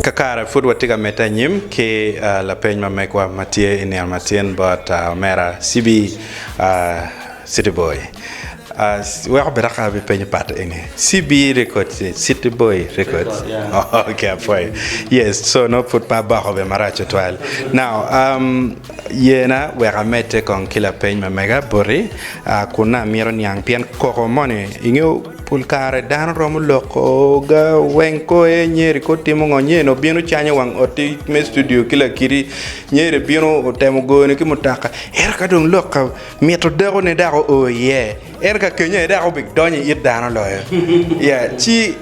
Kakare pud watye ka medde anyim ki lapeny ma megwa ma tye i nino matin bot omera Cibi City Boy. Weko bene aka abi penyo pat eni Cibi Records ni City Boy Records oh ok apwoyo yes so nongo pud pe aboko bene marac tutwal now. Yena wek amedde kong ki lapeny ma mega boti, kun nongo amito niang pien koko moni. Ingeyo pol kare dano romo loko ga weng ko aye Nyeri ko timo ngo, Nyeri obino canyo wang otti me studio ki lakiti, Nyeri bino otemo goyoni ki mutoka ento ka dong lok ka mito dako ne dok oo iye ento ka kenya aye dako obi donyo i it dano loyo yeah ci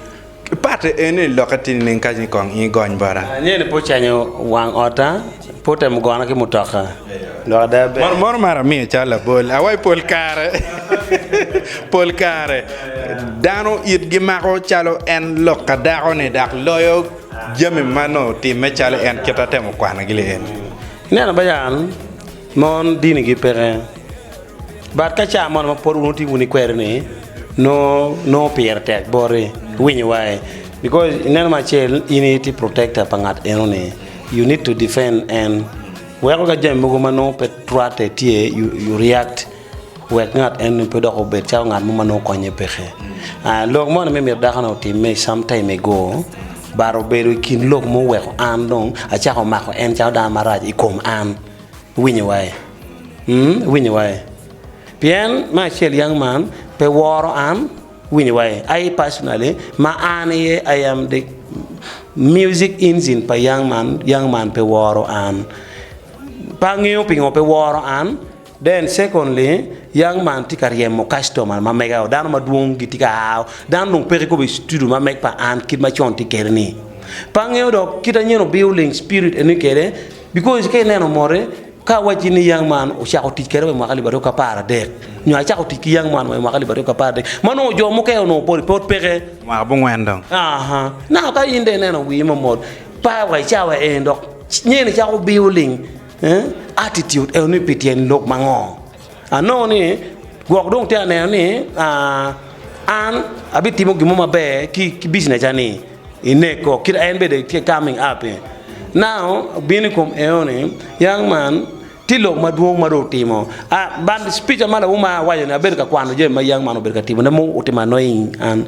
Patte en ni lokke ti nining ka ni kong in igony bota? Angeyo ni pe ocanyo wang otta, pe otemo gona ki mutoka dok ada ber. Mono mono mar amiyo calo labol awaco pol kare pol kare dano it gi mako calo en lok ka dako ni dok loyo jami ma nongo otime calo en kit atemo kwano gi li eni. Ineno bayan mon dini gi peke. But ka ca mo ma pud wutye wun ikweri ni nongo pire tek boti winyo wa i because ineno me acel in itye protector pa ngat eno ni you need to defend en weko ka jami mogo ma nongo pe rwatte tye you react wek ngat eno ni pe dok obed calo ngat mo ma nongo konye peke lok moni me myero dako ni otime i some time ago but obedo i kin lok ma oweko an dong acako mako en calo dano marac i kom an. Iwinyo wae? Umm, iwinyo wae? Pien me acel yang man pe woro an, iwinyo wae? Aye personally, ma an aye I am the music engine pa yang man, yang man pe woro an. Pe angeyo pingo pe woro an, then secondly, yang man tye ka ryemo customer ma mega o, dano madwong gitye ka aa o, dano dong peke kop I studio ma meg pa an kit ma con tye kede ni. Pe angeyo dok kit anyen obio ling spirit eni kede. Because ka ineno mote, ka awacci ni young man ocako tic kere wa i mwaka alip aryo ki apar adek, nyo acako tic ki young man wa i mwaka alip aryo ki apar adek, ma nongo jo mukene onongo pol pe peke. Mwaka bungwen dong. Aha. Now ka in dong ineno wii mamot, par wa i cawa eni dok nyen icako biyo ling, eh, attitude eno ni pi tyen lok mango? Anongo ni gwok dong tye ka neno ni an abitimo gin mo maber ki bicneca-ni i neko kit ma en bene tye ka kaming ap-pe. Nao obino i kom eno ni yang man tye lok madwong ma dong otimo bad pica ma lawuma awaco-ni abedo ka kwano jami ma yang man obedo ka timone ma otimo annoying an.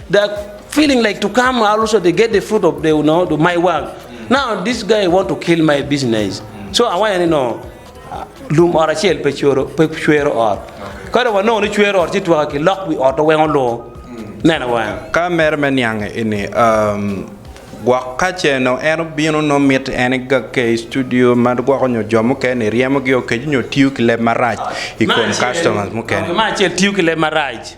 They're feeling like to come also they get the fruit of the, you know, the, my work. Now this guy want to kill my business. So I want to know lum ot acel pe cwero pe cwero ot. Ka dong wanongo ni cwero ot ci twaka ki lok wi ot wengo lur. Neno wang. Ka mere me niang ini um, gwok ka ceno en obino no mit en igakke i studio ma gwoko nyo jo mukene ryemogi okeco nyo tiyo ki leb marac i kom customers mukene. Ma acel tiyo ki leb marac.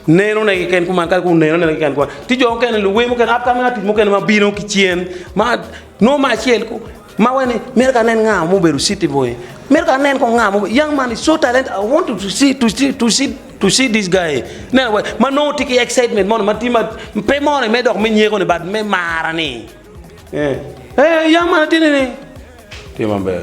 Neno ne keken kuman kadi kong neno ne keken kuman ci jo mukene luwe mukene upcoming artist mukene ma bino ki cen ma nongo me acel kong ma waci ni mito ka anen nga ma obedo city boy mito ka anen kong nga ma obedo young man is so talented I want to see to see to see to see this guy neno wa ma nongo tye ki excitement moni ma tye ma pe moni me dok me nyeko ni but me mar ni ee young man atye nene tye maber.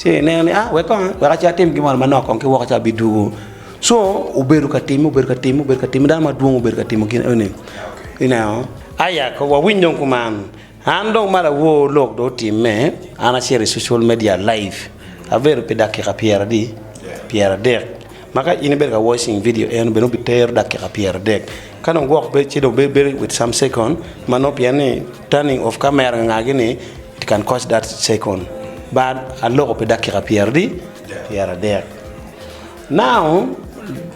ci eneno ni wek kong ci atim gin moro manok kong ki woko ci abidwogo so obedo ka time obedo ka time obedo ka time dano madwong obedo ka timo gin eni ineno aya ko wawiny dong kuman an dong ma lawor lok dong otimme an acito i social media live abedo pi dakika pyera adi pyera adek ma ka in ibedo ka watching video eno bene obitero dakika pyera adek ka dong gwok ci dong bedo with some second ma nongo pien ni Turning off camera nga gi ni it can cost that second but aloko pi dakika pyera di pyera dek now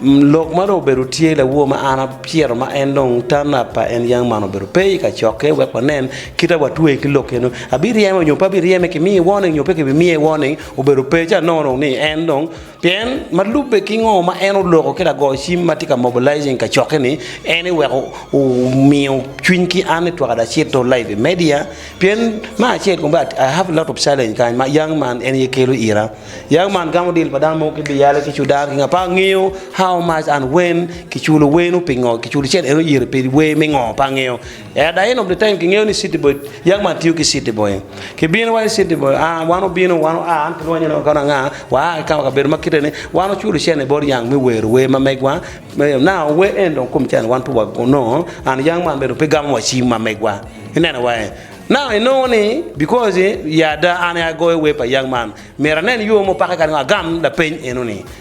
lok ma dong obedo tye lawor ma an apyero ma en dong turn up pa en young man obedo pe ka cokke wek wanen kita watweye ki lok kene abiryeme nyo pe abiryeme ki miye warning nyo pe ki bi miye warning obedo pe ca nongo dong ni en dong Pien, ma lubbe ki ngo ma en oloko ki lago cim ma tye ka mobilizing kacokke ni, en ni wek omiyo cwiny ki an ni twak ada acit to live i media, pien me acel kong bed I have a lot of challenge kany ma young man en aye kelo ira, young man gamo deal pa dano mogo ki biyale ki cudan ki nga pe angeyo how much and when kiculo wenu pingo kiculo cen en oyere pedi wer me ngo pe angeyo. Ea Daino Britain kingeyo ni city boy yag man tiyo ki city boy kibino wa i city boy a wan obino wan oa an kilwonyo ne wakono anga wa a kikawa kabedo ma kite ni wan oculo cene i bot yang me wero wer ma megwa me now wer en dong kom cene wan pe wa nongo and yang man bene dong pe gamo wa cim ma megwa ineno wa en now inongo ni because ya ada an aye agoyo wer pa yang man myero anen yo mupake kadi ngo agam lapeny eno ni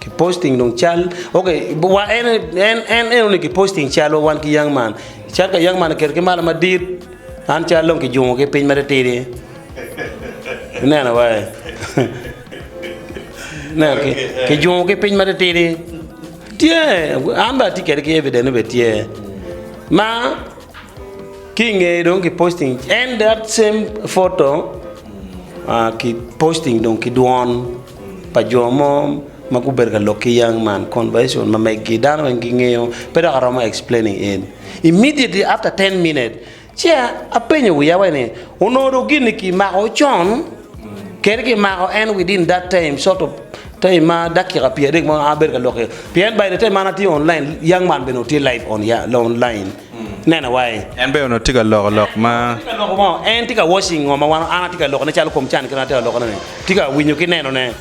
Ki posting dong cal. Ok, wa en en en eno ni ki posting cal wa wan ki young man. Cal ka young man keto ki malo madit. An cal dong ki jungo ki piny matitidi. Ineno wa. Ne ki ki jungo ki piny matitidi. Tye an ba ti kede ki evident ni be tye. Ma ki nge dong ki posting en that same photo uh, ki posting dong ki dwon. pa jo mo ma gubedo ka lok ki yang man conversation ma megi dano weng gi ngeyo pe dok aromo explaining in immediately after ten minutes ci apenyo wiya wa ni onongo dong gin ni ki mako con kadi ki mako en within that time sort of time ma dakika pyera adek ma an abedo ka lok iye pien by the time ma an atye online yang man bene tye live online. neno wai. En bene onongo tye ka loko lok ma. En tye ka loko ngo? En tye ka watching ngo ma wan an atye ka lokone calo kom can kit ma atye ka lokone ni. Tye ka winyo ki neno ne.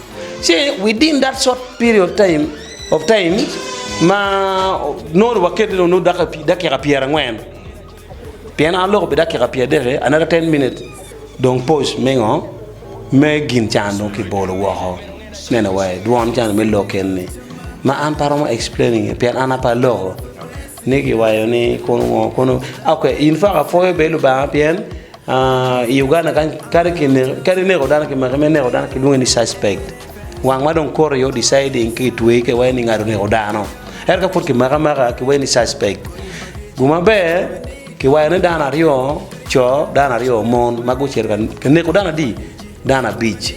See, within that short period of time, of time ma nongo ni wakete ni onongo dako pi dakika pyera ngwen. Pien an aloko pi dakika pyera adek-ki, another ten minutes dong pause me ngo? Me gin can dong ki bolo woko. Neno wai, dwon can me lok eni ni. Ma an pe aromo explaining-nge pien an ape aloko. Ni giwayo ni kono ngo kono ok in fa ka pwoyo bel lubanga pien I Uganda kadi kineko kadi ineko dano ki maki ma ineko dano kilwongi ni suspect wang ma dong koto aye deciding ki tweyi ka iwaco ni ngat oneko dano ento ka pud kimaki amaka kiwaci ni suspect guma ber kiwayo ni dano aryo coo dano aryo mon ma gucito ka neko dano adi dano abic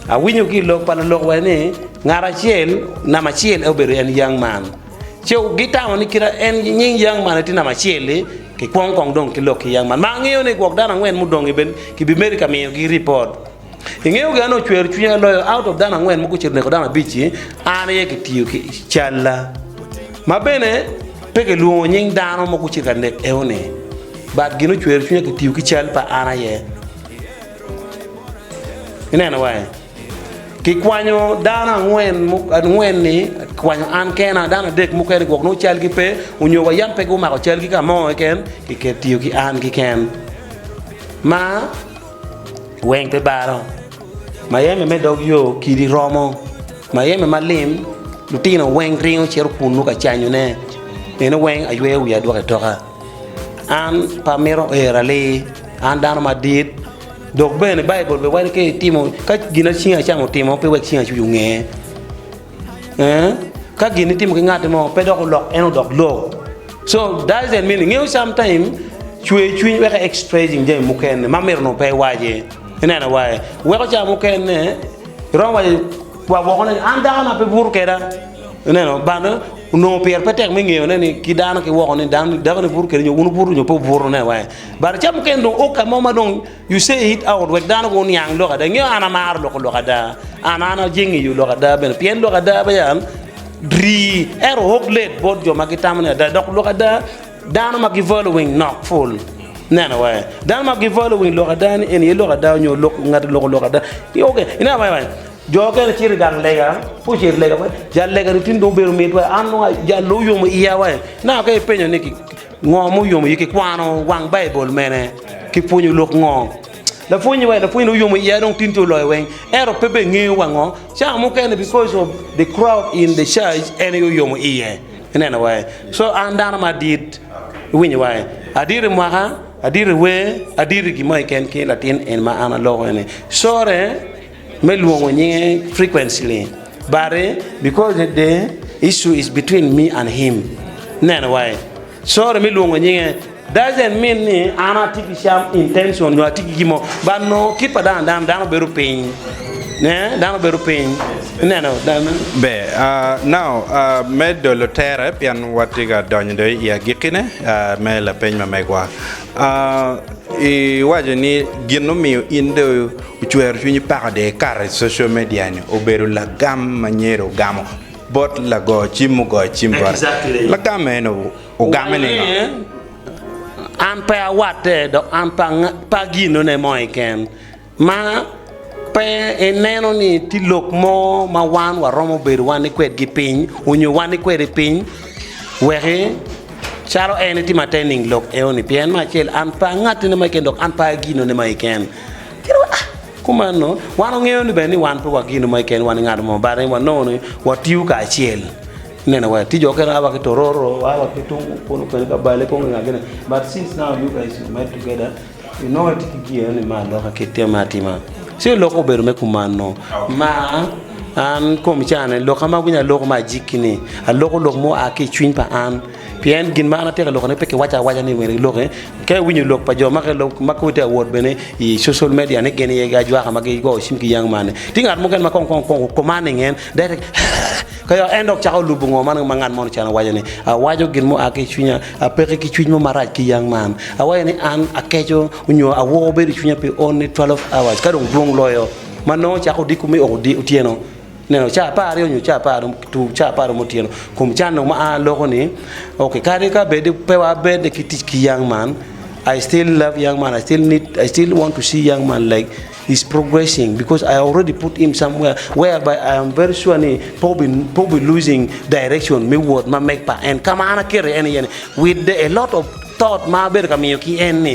awinyo ki ilok pa lolok waco ni ngat acel namba acel en obedo en young man ce gitamo ni kit ma en nying yang man tye namba acel-li, kikwongo kong dong ki lok ki yang man. Ma angeyo ni gwok dano angwen mudong-ngi bene kibimedo ka miyogi ripot. Ingeyo gin ma nongo ocwero cwinya loyo? Out of dano angwen mugucito oneko dano abic-ci, an aye kitiyo ki calla. Ma bene, pe kilwongo nying dano ma gucito ka nek eo-ni, but gin ma ocwero cwinya kitiyo ki cal pa an aye. Ineno-wa-i? Kikwanyo dano angwen, angwen ni kwanyo an kena, dano adek mukene gwok nongo calgi pe onyo wa yam pe gumako calgi ka mo keken kiketo tiyo ki an keken ma weng pe balo. Mayeme me dog yo kidi romo, mayeme ma lim lutino weng ringo cito kunnu ka canyo ne, meno weng ayweyo wiya adwoke toka. An pe amito ero ali, an dano madit. Dok bene Baibul bene waco ki timo ka gin ma cingi acamo otimo pe wek cingi acuc onge. Ka gin itimo ki ngat mo pe dok olok en odok lok. So does that mean ingeyo sometimes cwer cwiny weko i expressing jami mukene ma myero onongo pe iwace. Ineno wa-e? Weko ca mukene iromo waco wa woko ni an dako na pe buto keda. Ineno? But onongo pire pe tek me ngeyone ni ki dano ki woko ni dano-ni buto kedi nyo wun wubuto nyo pe wubuto. Ineno wa-e? But ca mukene dong oka mo ma dong you say it out wek dano gu niang lok ada ingeyo an amaro loko lok ada and an aje ngeyo lok ada bene pien lok ada peya rii ento hot late bot jo ma gitamo ni ada dok lok ada dano ma gi following nok pul neno wa dano ma gi following lok ada ni eni aye lok ada nyo lok ngati oloko lok ada ok ineno kong aye jo mukene cito igang lega ka ocito igang lega jal lega ni tin dong obedo mitwa an dong jal loyo oyomo iya wa ineno ka ipenyo ni Ngo ma oyomo iyee ki kwano wang Baibul mene ki pwonyo lok ngo? Lapwony wa lapwony ni oyomo iye dong tin ti oloyo weng ento pe be ngeyo wa ngo cawa mukene because of the crowd in the church en aye oyomo iye ineno wa e so an dano ma adit iwinyo wa e adit imwaka adit iwer adit igimo keken ki latin en ma an aloko eni sorry. me lwongo nyinge frequently but eh, because the the issue is between me and him neno wa eh, sorry me lwongo nyinge doesn't mean ni an atye ki some intention nyo atye ki gin mo but nongo kit pa dano dano dano bedo piny ne dano bedo piny ineno dano Ber. Uh, now, uh, me dolo tere, pien watye ka donyo dong i agikkine uh, me lapeny ma megwa. Uh, iwaco ni gin mumiyo in dong Ocwero cwinyi peko de ikato i social media ni obedo lagam ma nyer ogamo bot lago cim mugoyo cim bote. Lagam eno ogame ningo? An pe awatte dok an pe aginone mo keken. Ma pe ineno ni tye lok mo ma wan waromo bedo wani kwedgi piny onyo wani kwede piny weki calo en itimo atte nining lok eoni? Pien me acel an pe angattene mo keken dok an pe aginone mo keken. Kit ma kumeno, wan wangeyo ni bene ni wan pe wagino ma keken wan i ngat mo, but wanongo ni watiyo kacel. Ineno wee, ti jo okene a wa ki Tororo, a wa ki tung kunu kene ka Bale kong i nga kene, but since now you guys you met together, you know itye ki giya ni ma aloka kit tim me atima. Ci lok obedo me kumano. Ma an komi cani, lok ama awinyo aloko me ajiki-ni, aloko lok ma oa ki i cwiny pa an. Pien gin ma an atye ka lokone pe kiwaco awaca ni myero iloki. Ka iwinyo lok pa jo ma ki lok ma kong itye ka wot bene i social media ni gin aye ajwaka ma gigo cim ki yang man-ni. Tye ngat mukene ma kong kong kong o commanding en dek dek eeh ka yaka en dok cako lubo ngo man ma ngat moni ocano waco ni. Awaco gin mua ki i cwinya, apeki ki cwiny mo marac ki yang man. Awaco ni an akeco nyo awoo bedo i cwinya pi only twelve hours ka dong dwong loyo ma nongo ocako odiko me oo otyeno. Neno caa apar aryo nyo caa apar tum caa apar romo otyeno kum can dong ma aa loko ni ok kadi ka bed pe wa bed ki tic ki young man I still love young man I still need I still want to see young man like is progressing because I already put him somewhere where by I am very sure ni pe obi pe obi losing direction me wot ma meg pa en ka ma an akete en iye ni with the a lot of thought ma abedo ka miyo ki en ni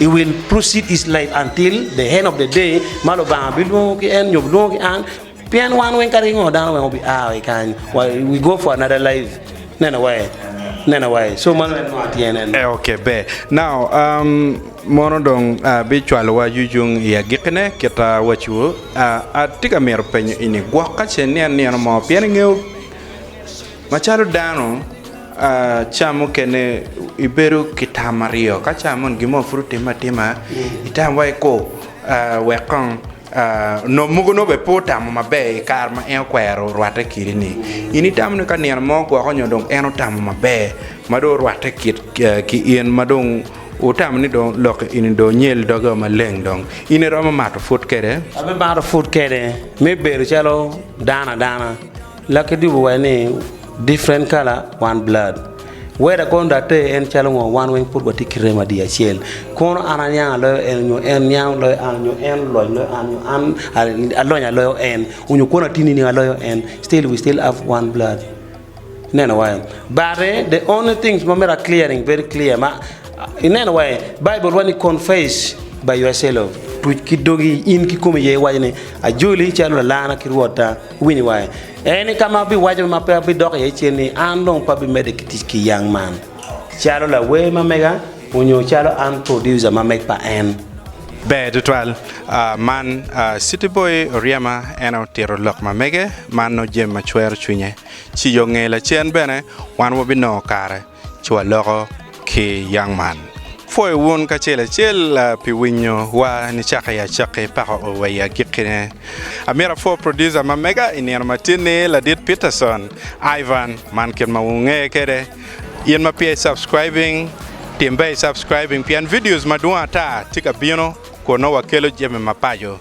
i will proceed his life until the end of the day ma lubanga bilwongo ki en nyo bilwongo ki an pien wan weng ka ringo dano weng obi a wa i kany we go for another life neno wa en neno wa en so mano en nongo atye nen eh, ok ber now um, mono dong uh, bicwalowa yucung i agikkine kita wacu uh, atye ka mito penyo ini gwok ka ce nian nieno mo pien ingeyo Macalo dano, caa mukene ibedo ki tam aryo. Ka caa moni gin mo pud otimme atima, itam wai ko wek kong nongo mogo nongo bene pe otamo maber i kare ma en okwero rwatte kidini. In itamo ni ka nino mo ogwoko nyo dong en otamo maber ma dong orwatte ki in ma dong wutamo ni dong lok eni dong onyel doge o maleng dong. In iromo mato pwod kwede? Abimato pwod kwede me bedo calo dano adana. Laki dubu wa ni different color one blood weda kono da ter en calo ngo wan weng pud watye ki remo adiya acel kono an aniang aloyo en nyo en niang loyo an nyo en oloc loyo an nyo an alony aloyo en onyo kono atini niang aloyo en still we still have one blood ineno wa en but the only things ma myero a clearing very clear ma ineno wa en Bible wa ni confess by yourself tuc ki dogi in kikomi aye iwaco ni ajoli calo lalana ki Rwotta. Winy wa en i ka ma abiwaco ma pe abidok iye cen ni an dong pe abimedde ki tic ki yang man calo lawer ma mega onyo calo an producer ma meg pa en. Ber tutwal man City Boy oryema en otito lok ma mege man nongo jami ma cwero cwinye ciyo nge lacen bene wan wabinongo kare. Cwa loko ki yang man. Pwoyo wun kacel acel pi winyo wa nicaki acaki pako o wa i agiki ne. Amyero apwo producer ma mega i nino ma tye ni Ladit Peterson, Ivan, man kit ma wunge kede. In ma peya i subscribing, timbe i subscribing pien videos madwong ata tye ka bino kun nongo wa kelo jami ma paco.